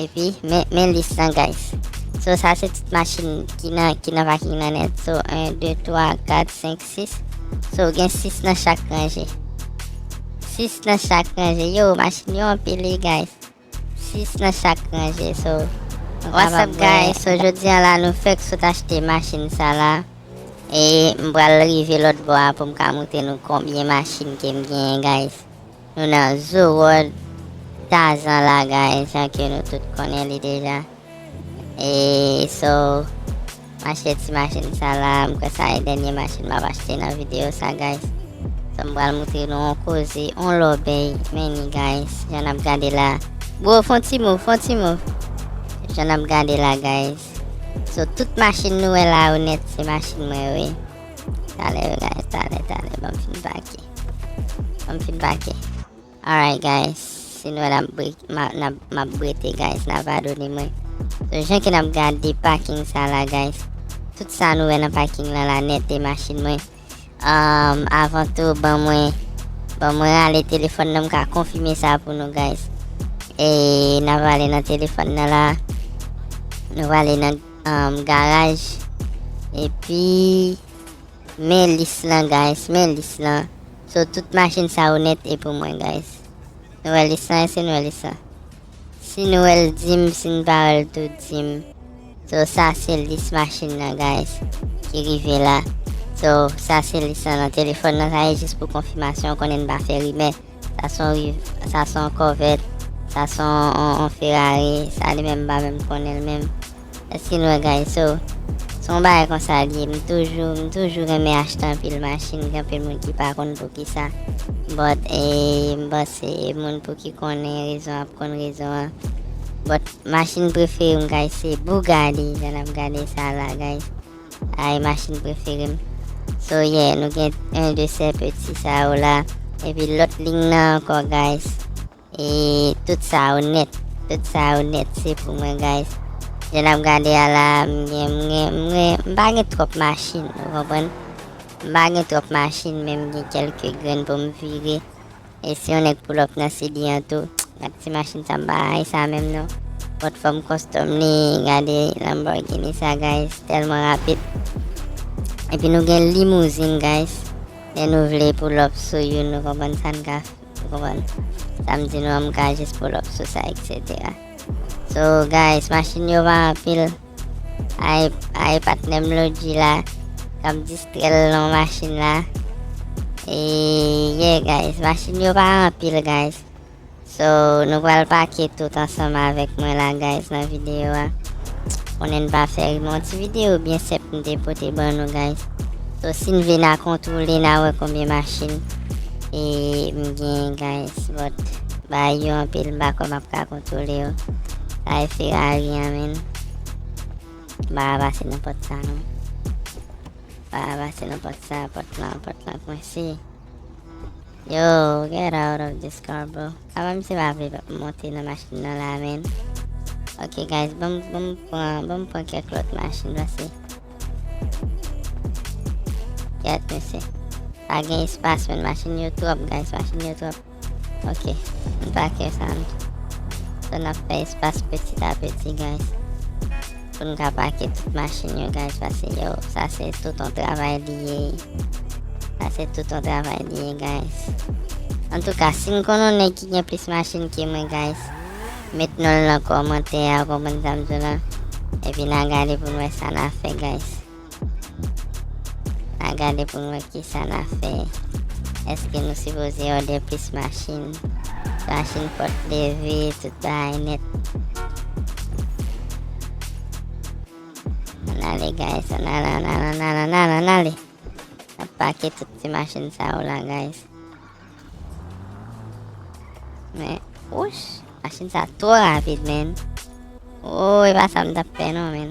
Epi men men lis lan guys. So sa se tout machin ki nan ki nan vaking nan net. So 1, 2, 3, 4, 5, 6. So gen 6 nan chak ranje. 6 nan chak ranje. Yo machin yo anpil li guys. 6 nan chak ranje. So what's up guys. So jodi an la nou fek sot achte machin sa la. E mbral rive lot bo a pou m ka moute nou konbyen machin ke m gen guys. Nou nan zoo world Tarzan la guys jan ke nou tout konnen li deja e so mache ti machin sa la m kwè sa e dènye machin map achte nan video sa guys so m pral moutre nou on koze on lòbèy men ni guys jan nap gade la bro fon ti move fon ti move jan nap gade la guys so tout machin nou wè la yo nèt se machin mwen yo wi. Tale yo guys tale tale banm fin pake banm fin pake. Alright guys si nou wè nap brik nap map brete guys na padone mwen so jan ke nap gade paking sa la guys tout sa nou wè nan paking la la net e machin mwen um, avan tou ban mwen ban mwen rale telefon nan m ka konfime sa pou nou guys e na vale nan telefon nan la nou vale nan um garaj epi men lis lan guys men lis lan so tout machin sa yo nèt e pou mwen guys nou wè lis lan esi nou wè lis lan si nou wèl dim si nou pa wèl tou dim so sa se lis machin nan guys ki rive la so sa se lis lan nan telefòn nan sa e jis pou konfimasyon konnen n pa fè rimè. Sa son riv sa son kòvèt sa son on ferari sa li menm m pa menm konnen l menm èske n wè guys so s on bagay konsa l ye m toujou m toujou renmen achte anpil machin gen anpil moun ki pa konn poukisa but m panse moun pou ki konnen rezon ap konn rezon an but machin prefere m guys se bugatti jan n ap gade sa la guys. Ayy machine preferem. So yeah nou gen 1 de sè peti sa yo la epi lot lign nan anko guys e tout sa yo net tout sa yo net se pou mwen guys jan nap gade a la m gen m gen m gen m pa gen trop machine ou konprann m pa gen trop machine men m gen kelke grenn pou m vire. E si yon nèg pull up nan CD an tou ak ti machin sa m pa rayi sa menm non. Gad fòm kòstòm li gade Lamborghini sa guys tèlman rapid Epi nou gen limouzin guys lè nou vle pull up sou youn nou konprann sa n ka nou konprann sa m di nou an m ka jis pull up sou sa etc So guys machin yo pa anpil. Ay ay patnèm Lodji la kap distrèl nan machin la e ye guys machin yo pa anpil guys so nou pral pake tout ansanm avèk mwen la guys nan video a konnen n pa fè ri mon ti video byen senp m te pote ban nou guys so si n vle na kontwole na wè konbyen machin e m gen guys but bay yo anpil m pa kwè map ka Toulé yo. Kay Ferrari an menn. Ba a pase nan pòt sa non. Ba a pase nan pòt sa, pòt lan, pòt lan kwense. Yo, get out of this car bro. Aba misye pa vle monte nan machin nan la menn. Ok guys, bom bom pran, bom pran kèk lòt machin pase. Get misye. Pa gen espas menn, machin yo twòp guys, machin yo twòp. Ok m pa kè sa n So nap fè espas petit a petit guys Poun ka pake tout machin yo guys Pase yo sa se tout on travay li ye Sa se tout on travay li ye guys Antouka si n konn on nèg ki gen plis machin ke mwen guys Met non l nan kòmantè a ou konprann sa m di w lan Epi na gade pou n wè sa na fè guys. Na gade pou nou wè kisa na fè. Eske nou sipoze òde plis machin. Machin pòt leve tout bagay nèt. An ale guys an ale an ale an ale an ale an ale. Na pake tout ti machin sa yo la guys. Men ouch machin sa twò rapid men. Woo e pa sa m tap fè non men.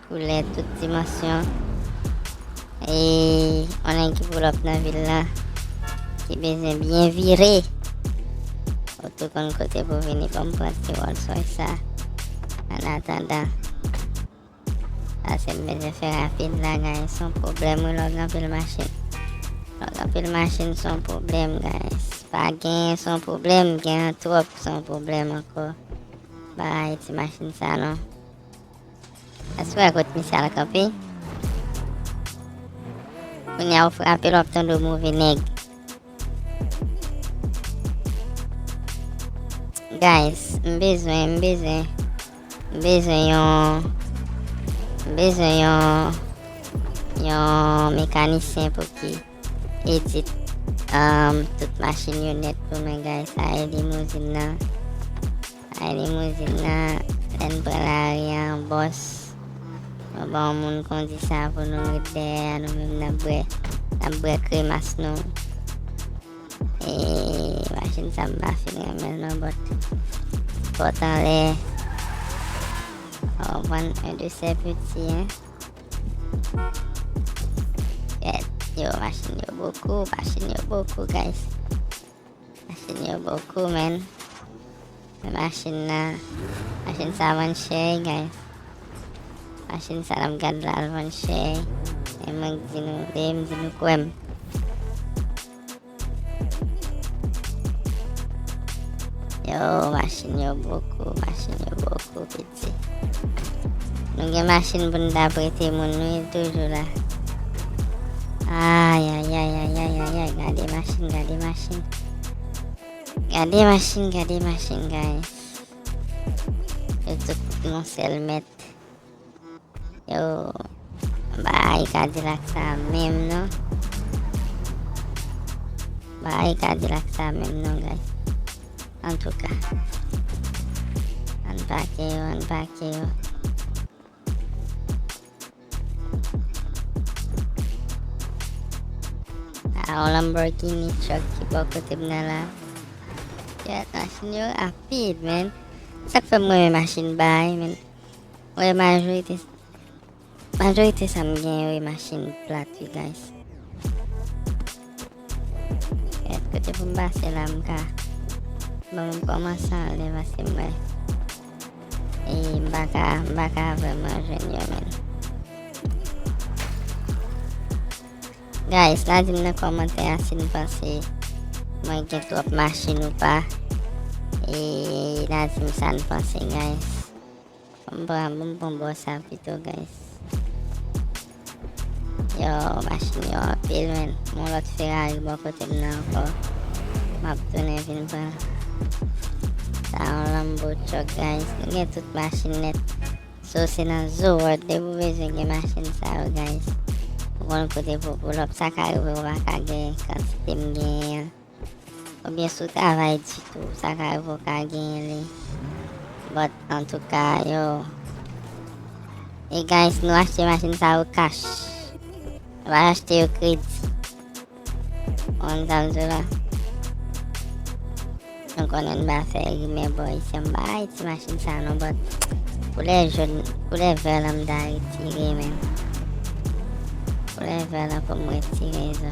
Koulè tout dimansyon e yon nèg ki poulòp nan vil la ki bezwen byen vire. Ou tou konn kote pou vini pou m pran ti Rolls Royce sa. An atandan, pase m bezwen fè rapid la gayen son pwoblèm wi lè w gen anpil machin. Lè w gen anpil machin son pwoblèm gayen. Pa genyen son pwoblèm, gen an twòp son pwoblèm ankò. Pa rayi ti machin sa non. Aswè a kot misye al kanpe. Kounye a ou frape l wap tande w move nèg. Guys, m bezwen, m bezwen. M bezwen yon m bezwen yon yon mekanisyen pou ki edit um, tout machin yo net pou mwen guys, sa e limousine nan. Ay limouzin nan lèn pran lari an bòs nou ba yon moun kondi sa pou nou met dèyè a nou menm nap bwè nap bwè kremas nou eee machin sa mpa fin renmenl non bòt pòt anlè ou konprann un de ces petits hein gad yo machin yo bokou machin yo bokou guys. Machin yo bokou menn. Men machin nan. Machin sa vann chè wi guys. Machin sa nap gad la al vann chè. E mwen k di nou veye m di nou kwè m. Yo machin yo bokou, machin yo bokou. Nou gen machin pou nou ta prete moun nou il toujou la. Ayayayayayayay, gade machin, gade machin. Gade machin, gade machin, guys. Yo tout non sel met. Yo bay kadilak sa menm non. Bay kadilak sa menm non guys. An tou ka. An pake yo, an pake yo. A on Lamborghini truck ki bo kote mnen la. Yat machin yo rapid men. Sak fè mwen machin bay men. Wi majorite majorite sa m gen yo e machin plat wi guys. Et kote pou m pase la m ka bon m komanse anle paske m wè e m pa ka m pa ka vreman jwenn yo men. Guys la di m nan komantè a si n panse mwen gen twòp machin ou pa e la di m sa n panse guys. M pran pou m pran bò sa pito guys. Yow machin yo anpil menn. Gon lòt Ferrari bò kote m nan ankò. Map tounen vin pran. Sa yon Lambo truck guys. Nou gen tout machin nèt. So se nan Zoo World depi w bezwen gen machin sa yo guys. Ou konn kote pou w pull up. Sa ka rive ou pa ka gen kantite m genyen an. Ou byen sou travay di tou sa ka rivew ka genyen li but antouka yow e guys nou achte machin sa yo cash nou pa achte yo kredi konn sam di w la nou konnen m pa fè rimè bò isi an m pa bay ti machin sa non but koulè jaune koulè vert lan m ta retire men koulè vert lan pou m retire sa.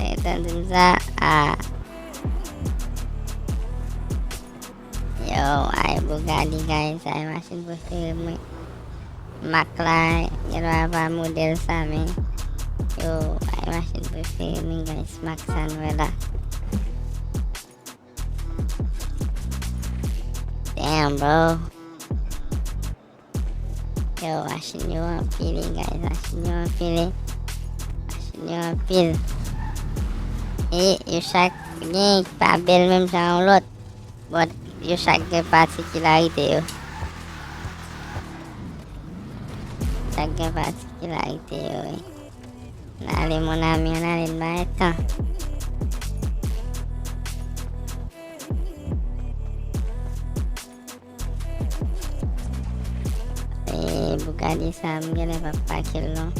Etan di m sa a. Yo, ay Bugatti guys, ay machin prefere mwen. Mak la, gen lwa pa model sa men. Yo, ay machin prefere mwen guys, mak sa nou e la. Damn bro. Yow machin yo anpile guys machin yo anpile machin yo anpile e yo chak gen ki pa bel menm jan yon lot bon yo chak gen patikilarite yo chak gen patikilarite yo oui. nan ale mon ami nan ale ba etan Eee Bugatti sa m genlè pa pake l non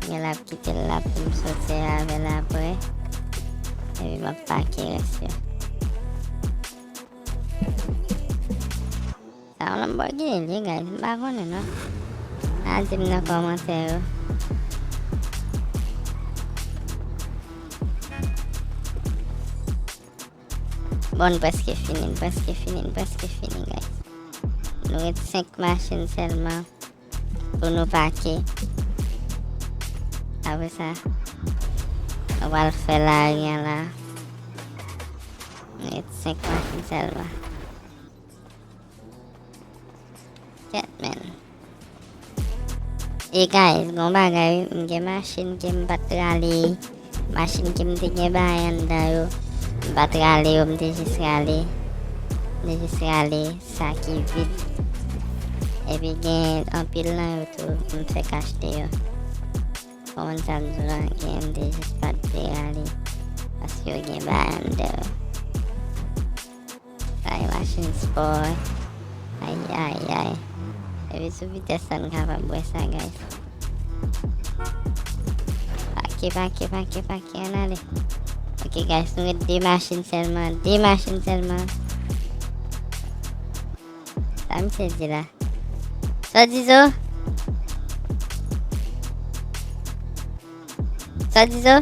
Genlè ap kite l la pou m sote avè l aprè Epi m ap pake rès yo Sa yon Lamborghini li ye guys m pa konnen non Al di m nan kòmantè yo Bon n preske fini n preske fini n preske fini guys Nou ret 5 machin selman Pou nou pake Apre sa Nou pral fè lari an la Nou ret 5 machin selman E guys, gon bagay, m gen machin ke m pat rale, machin ke m te gen bay andan yo, m pat rale yo, m te jis rale, m te jis rale sa ki vid. Epi gen anpil nan yo tou, m te kachte yo. Kon sa m di lan, gen m te jis pat te rale, paske yo gen bay andan yo. Kay machin spò wi. Ayayay. Depi sou vitès la n kapab wè sa guys. Pake pake pake pake an ale. Ok guys nou ret 2 machin sèlman. 2 machin sèlman. Sa m se di la. Sa di zo? Sa di zo?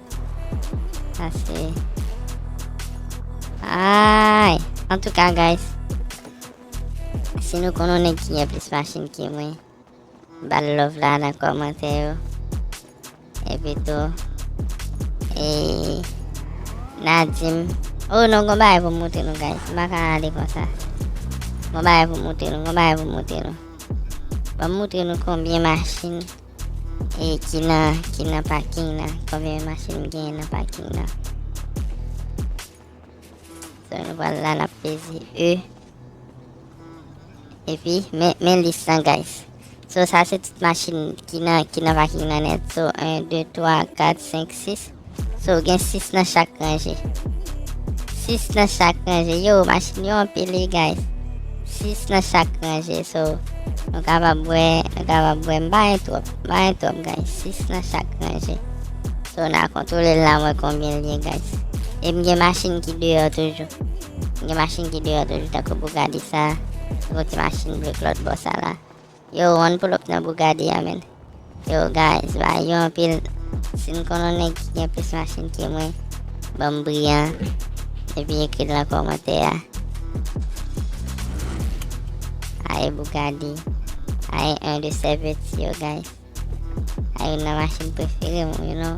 Ase. Ay. An tou ka guys. Si nou konon nèk ki gen plis machin ki mwen. Bal love la nan komante yo. E pi tou. E. Nadim. Oh non kon bagay pou moute nou guys. M baka ale kon sa. Kon bagay pou moute nou. Kon bagay pou moute nou. Pou moute nou konbyen machin. E ki nan ki nan parking nan. Konbyen machin gen nan parking nan. So nou pral la nap peze E. E pi men men lis lan guys. So sa se tout machin ki nan ki nan parking nan net. So 1 2 3 4 5 6 So gen 6 nan chak ranje. 6 nan chak ranje. Yo, machin yo anpil wi guys. 6 nan chak ranje. So, nou kapab wè, nou kapab wè. M pa gen twòp, m pa gen twòp guys. 6 nan chak ranje. So, n a kontwole l la wè konbyen l gen guys. E m gen machin ki deyò toujou. M gen machin ki deyò toujou. Tako Bugatti sa. Yon ti machin ble klòt bò sa la. Yow one pull up nan Bugatti a menn. Yow guys ba yo anpil si n konn on nèg ki gen plis machin ke mwen banm briyan epi ekril nan kòmantè a ae Bugatti ae 1 de sè peti yo guys ae yon nan machin prefere mwen you know